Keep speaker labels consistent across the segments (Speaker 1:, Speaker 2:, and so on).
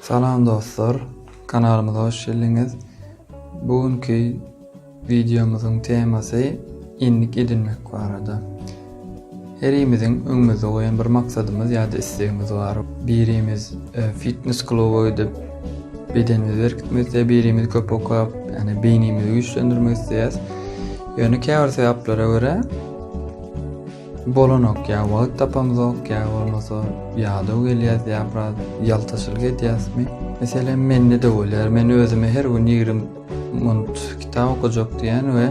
Speaker 1: Salam dostlar! Kanalymyza hoş geldiňiz. Bu günki wideomyzyň temasy endik edinmek barada. Herimiziň öňümizde goýan bir maksadymyz ýa-da islegimiz bar. Birimiz e, fitnes kluba gidip bedenimizi berkitmek isleýär, birimiz köp okap, ýani beýnimizi güýçlendirmek isleýär. Ýöne käbir sebäplere görä Bolanok ýa wagt tapamzok ýa bolmasa ýadaw gelýäs ýa biraz ýaltaçylyk edýäsmi? Meselem mende-de bolýar men özüme her gün ýigrimi munut kitap okajak diýýän we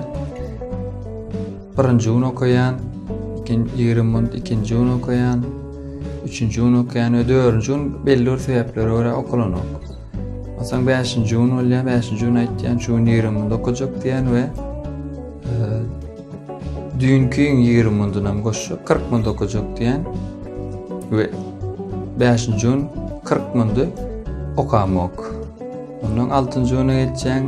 Speaker 1: birinji gün okaýan ikin ýigrimi munut ikinji gün okaýan üçünji gün okaýan we dördünji gün belli bir sebäplere görä okalanok. Onsoň bäşinji gün bolýar bäşinji gün aýtýan şu gün ýigrimi munut okajak diýýän we Düýnkiň ýigrimi mundunam goşsa, kyrk mund okajak diýen we bäşinji gün kyrk mundy okamok. Ondan altynjy güne geçýäň,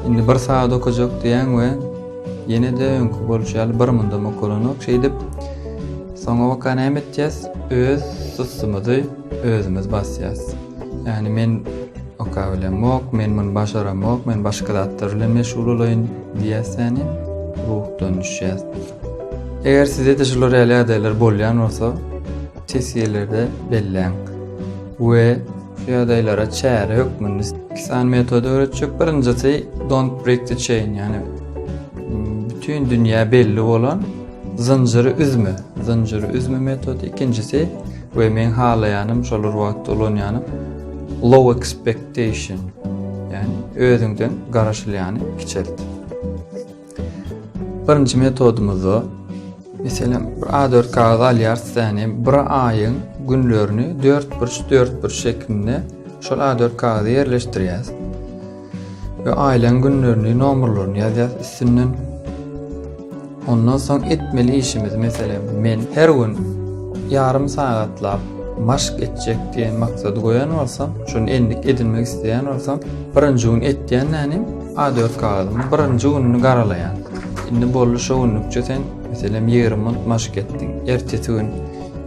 Speaker 1: indi bir sagat okajak diýýäň we ýene-de öňki bolşy ýaly bir mundam okalanok. Şeýdip, soňabaka näme etýäs? Öz sussumyzy özümiz basýas. Ýagny men Oka bilemok, men muny başaramok, men başga zatlar bilen meşgul bolaýyn diýýäs ýani, ruhdan düşýäs. Eger sizde-de şular ýaly ýagdaýlar bolýan bolsa, test ýerlerde belläň. We şu ýagdaýlara çäre hökmünde iki sany metody öwretjek. Birinjisi don't break the chain, ýani bütin dünýä belli bolan Zynjyry üzme, zynjyry üzme metody ikinjisi we meň halaýanym şol bir wagtda ulanýanym low expectation ýagny özüňden garaşylýany kiçelt. Birinji metodymyzda meselem bir A4 kagaz alýarys täni bir aýyň günlerini 4 burç 4 burç şeklinde şol A4 kagaza ýerleşdirýäs. we aýlaň günlerini nomerlerini ýazýas üstünden ondan soň etmeli işimiz meselem men her gün ýarym sagatlap maşk etjek diýen maksady goýan bolsam, şuny endik edinmek isleýän bolsam, birinji gün etýän nänim A4 kagyzymy birinji gününi garalaýan. Indi boldy şu günlükçe sen meselem 20 minut maşk etdiň. Ertesi gün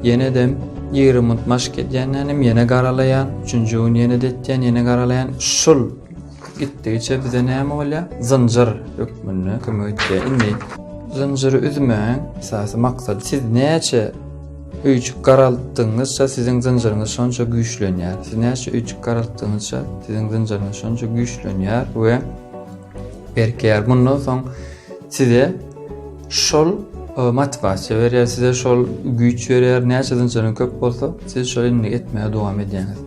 Speaker 1: Ýenedem ýigrimi munt maşk edýändenem ýene garalaýan, üçünji gün ýene-de etýän, ýene garalaýan. Şul gitdigiçe bize näme bolýar? Zynjyr hökmünde kömek etýär. Indi zynjyry üzmäň, esasy maksat siz näçe öýjük garaltdygyňyzça siziň zynjyryňyz şonça güýçlenýär. Siz näçe öýjük garaltdygyňyzça siziň zynjyryňyz şonça güýçlenýär we berkeýär. Mundan soň size Şol mat basja berýär size şol güýç berýär näçe zynjyryň köp bolsa siz şol indi etmäge dowam edýäňiz.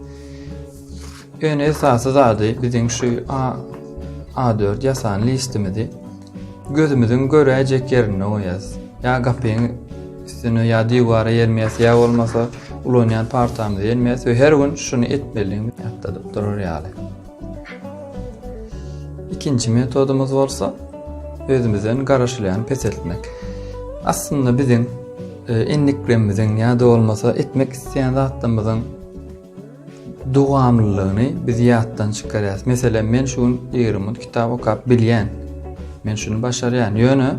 Speaker 1: Ýöne esasy zady biziň şu A A4 ýasan listimizi gözümiziň göräýjek ýerinde goýýas. Ýa gapyň üstüne ýa diwara ýermýäs ýa bolmasa ulanýan partamyzy ýermýäs we her gün şuny etmelidigimizi ýatladyp durar ýaly. Ikinji metodumyz bolsa özümizden garaşylýan peseltmek. Aslynda biziň e, endiklemiziň ýa-da bolmasa etmek isleýän zatlarymyzyň dowamlylygyny biz ýatdan çykarýarys. Meselem, men şu gün 20 minut kitap okap bilýän. Men şuny başarýan. Ýöne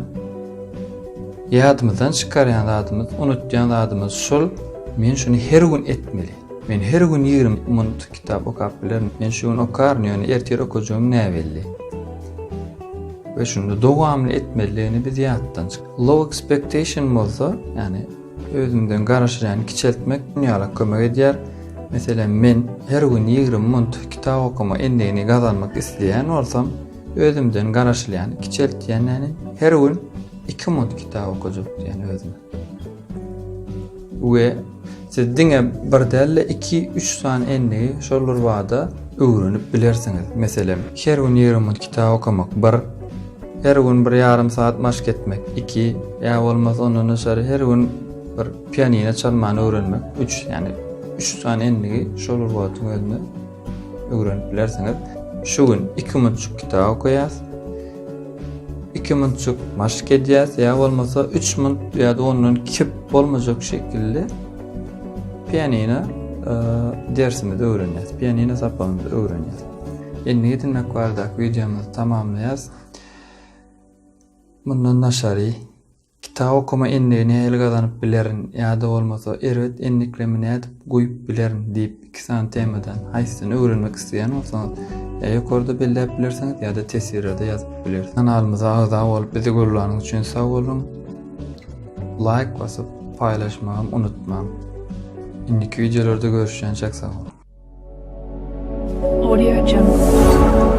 Speaker 1: ýadymyzdan çykarýan zadymyz, unutýan zadymyz şul, men şuny her gün etmeli. Men her gün 20 minut Kitap okap bilerin. Men şu gün okaryn, ýöne ertir okajagym näbelli. We şunda dowamly etmelidigini biz ýatdan çyk. Low expectation bolsa, ýani özüňden garaşyny kiçeltmek dünýälik kömek edýär. Meselem, men her gün 20 minut kitap okama endigini gazanmak isleýän bolsam, özümden garaşylýany kiçeltýän, ýani her gün 2 minut kitap okajak diýen özüme. We siz diňe bir däl-de iki, üç sany endigi şol bir bada öwrenip bilersiňiz. Meselem, her gün ýigrimi minut kitap okamak, bir, her gün bir ýarym saat maşk etmek, iki, ýa bolmasa ondan daşary her gün bir pianino çalmany öwrenmek, üç, ýagny üç sany endigi şol bir wagtyň özünde öwrenip bilersiňiz. Şu gün iki minutçuk kitap okaýas. Iki minutçuk maşk edýäs, ýa bolmasa üç minut ýa da ondan kep bolmajak şekilde pianina e, dersimizi öwrenýäs. Pianina sapagymyzy öwrenýäs. Indi getirmek bardak videomyzy tamamlaýas. Mundan daşary Kitap okama endigi nähili gazanyp bilerin ýa-da bolmasa erbet endiklemi nädip guýup bilerin diýip iki sany temadan haýsysyny öwrenmek isleýän bolsaňyz ýa ýokarda belläp bilersiňiz ýa-da teswirada ýazyp bilersiňiz. Kanalymyza agza bolup bizi gollanyňyz üçin sag boluň. Laýk basyp paýlaşmagam unutmaň. Indiki wideolarda
Speaker 2: görüşýänçäk
Speaker 1: sag boluň. Audio Jungle.